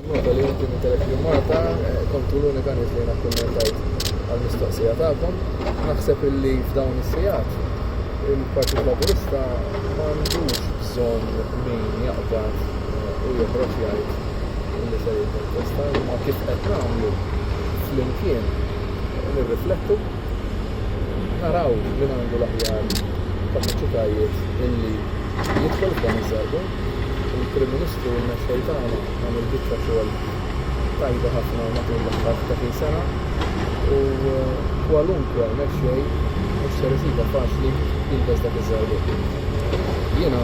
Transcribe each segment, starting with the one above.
Nota li inti intelek li Malta eh, kontu l-unika nies li nakkummentajt għal-mistoqsija tagħkom. Naħseb illi f'dawn is-sijat il-Partit Laburista m'għandux bżonn min jaqbad eh, u joħroġ jgħid illi se jitkontesta imma kif qed nagħmlu flimkien nirriflettu naraw li għandu l-aħjar kapaċitajiet illi jidħol f'dan iż-żarbun il-Prim Ministru u l-Mexxej tagħna għamel biċċa xogħol tajba ħafna matul l-aħħar 30 sena u kwalunkwe mexxej mhux ser isibha faċli jilbes dak iż-żarbun. Jiena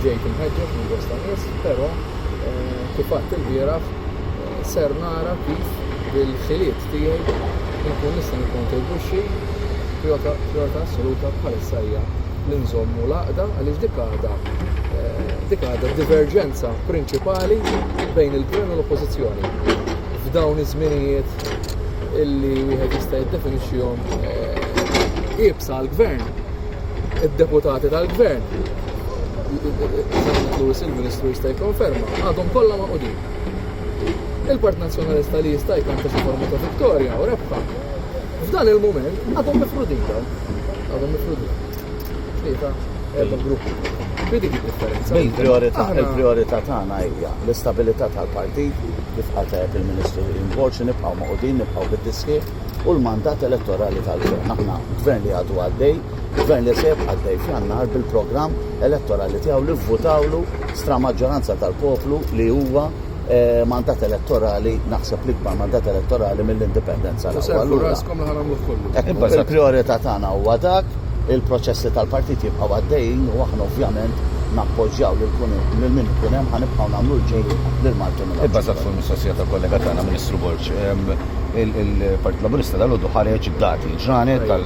ġejt imħeġġeġ minn bosta nies, però eh, kif għadt ilbieraħ eh, ser nara kif bil-ħiliet tiegħi li nkun nista' nikkontribwixxi prijorità assoluta bħalissa hija li nżommu l-għaqda għaliex dik għadha eh, dik għadha diverġenza prinċipali bejn il-gvern u l-oppożizzjoni. F'dawn iż-żminijiet illi wieħed jista' jiddefinixxihom eh, ibsa l-gvern, id-deputati tal-gvern, Lewis il-Ministru jista' jikkonferma, għadhom kollha ma' qudin. il-Partit Nazzjonalista li jista' jkanta xi forma ta' vittorja u rebħa. F'dan il-mument għadhom mifrudin dawn. Għadhom mifrudin. Tlieta, erba' grupp. Bidi dik differenza. Il-priorità il-priorità tagħna hija l-istabilità tal-partit kif qatet il-Ministru Involx nibqgħu maqudin, nibqgħu bid-diski u l-mandat elettorali tal-gvern. Aħna gvern li għadu għaddej Gvern li se jibqa' għaddej f'Jannar bil-programm elettorali tiegħu li vvutawlu stramaġġoranza tal-poplu li huwa eh, mandat elettorali, naħseb l-ikbar mandat elettorali mill-indipendenza. Servu raskom li ħanamlu kollu. Il-priorità tagħna huwa dak, il-proċessi tal-partit jibqgħu għaddejjin u aħna ovvjament nappoġġjaw lil kun lil min ikun hemm ħanibqgħu nagħmlu l-ġej lil Malti minn Ibbażat fuq il-mistoqsija ta' kollega tagħna Ministru Borġ, ehm, il-Partit Laburista dal-għodu ħareġ dati ġranet tal